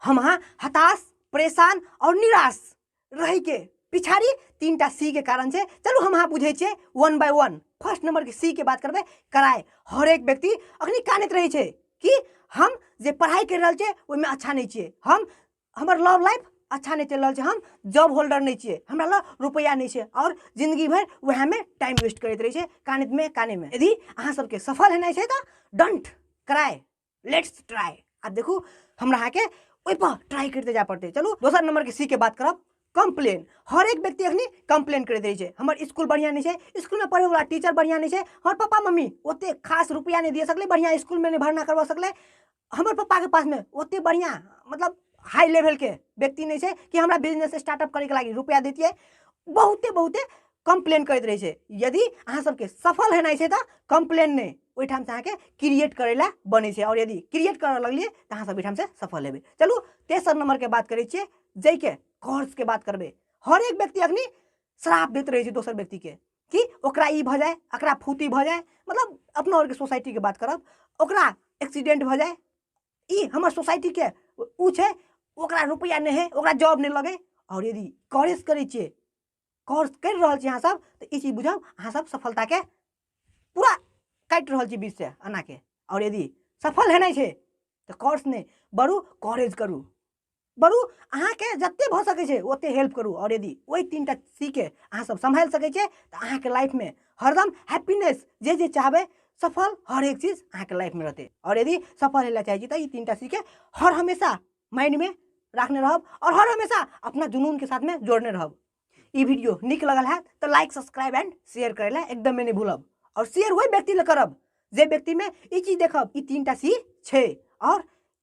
हम हाँ हताश परेशान और निराश रह के पिछाड़ी तीन टा सी के कारण से चलू हम हाँ बुझे छे one by one first number के सी के बात करबे कराए हर एक व्यक्ति अखनी कानत रहे छे कि हम जे पढ़ाई कर रहे छे ओहि में अच्छा नहीं छे हम हमर लव लाइफ अच्छा नहि चलि रहल छै हम जॉब होल्डर नहि छियै हमरा लग रुपैआ नहि छै आओर जिन्दगी भरि उएहमे टाइम वेस्ट करैत रहै छै कानमे कानमे यदि अहाँ सबके सफल हेनाइ छै तऽ डंट क्राई लेट्स ट्राई आ देखू हमरा अहाँके ओहिपर ट्राई करते जाय पड़तै चलू दोसर नम्बरके सीके बात करब कम्प्लेन हर एक व्यक्ति अखनी कम्प्लेन करैत रहै छै हमर स्कूल बढ़िया नहीं है स्कूल में पढ़े वाला टीचर बढ़िया नहीं है हमर पापा मम्मी ओते खास रुपया नहीं दिए सकले बढ़िया स्कूल में नहीं भरना करवा सकले हमर पप्पाके पासमे ओतेक बढ़िआँ मतलब हाई लेवलके व्यक्ति नहि छै कि हमरा बिजनेस स्टार्टअप करैके लागि रुपैआ दैतियै बहुते बहुते कम्प्लेन करैत रहै छै यदि अहाँ सबके सफल हेनाइ छै तऽ कम्प्लेन नहि ओहिठामसँ अहाँके क्रिएट करै लए बनै छै आओर यदि क्रिएट करऽ लगलियै तऽ अहाँ सब ओहिठामसँ सफल हेबै चलू तेसर नम्बरके बात करै छियै जाहिके कर्जके बात करबै हरेक व्यक्ति अखनी श्राप दैत रहै छै दोसर व्यक्तिके कि ओकरा ई भऽ जाए एकरा फूती भऽ जाए मतलब अपना आरके सोसाइटीके बात करब ओकरा एक्सीडेंट भऽ जाए ई हमर सोसाइटीके ओ छै ओकरा रुपैआ नहि हइ ओकरा जॉब नहि लगै आओर यदि कॉलेज करै छियै कोर्स करि रहल छी अहाँ सब तऽ ई चीज बुझब अहाँ सब सफलताके पूरा काटि रहल छी बीच से एनाके आओर यदि सफल हेनाइ छै तऽ कोर्स नहि बढ़ू कॉलेज करू बड़ू अहाँके जते भऽ सकै छै ओते हेल्प करू आओर यदि ओहि तीन टा सीके अहाँ सब सम्हारि सकै छियै तऽ अहाँके लाइफमे हरदम हैप्पीनेस जे जे चाहबै सफल हर एक चीज अहाँके लाइफमे रहतै आओर यदि सफल हेला चाहै छी तऽ ई तीन टा सीके हर हमेशा माइंडमे राखने रहब आओर हर हमेशा अपना जुनूनके साथमे जोड़ने रहब ई वीडियो नीक लगल हैत तऽ लाइक सब्सक्राइब एंड शेयर करै लए एकदमे नहि भूलब आओर शेयर ओहि व्यक्ति लए करब जे व्यक्तिमे ई चीज देखब ई तीन टा सी छै आओर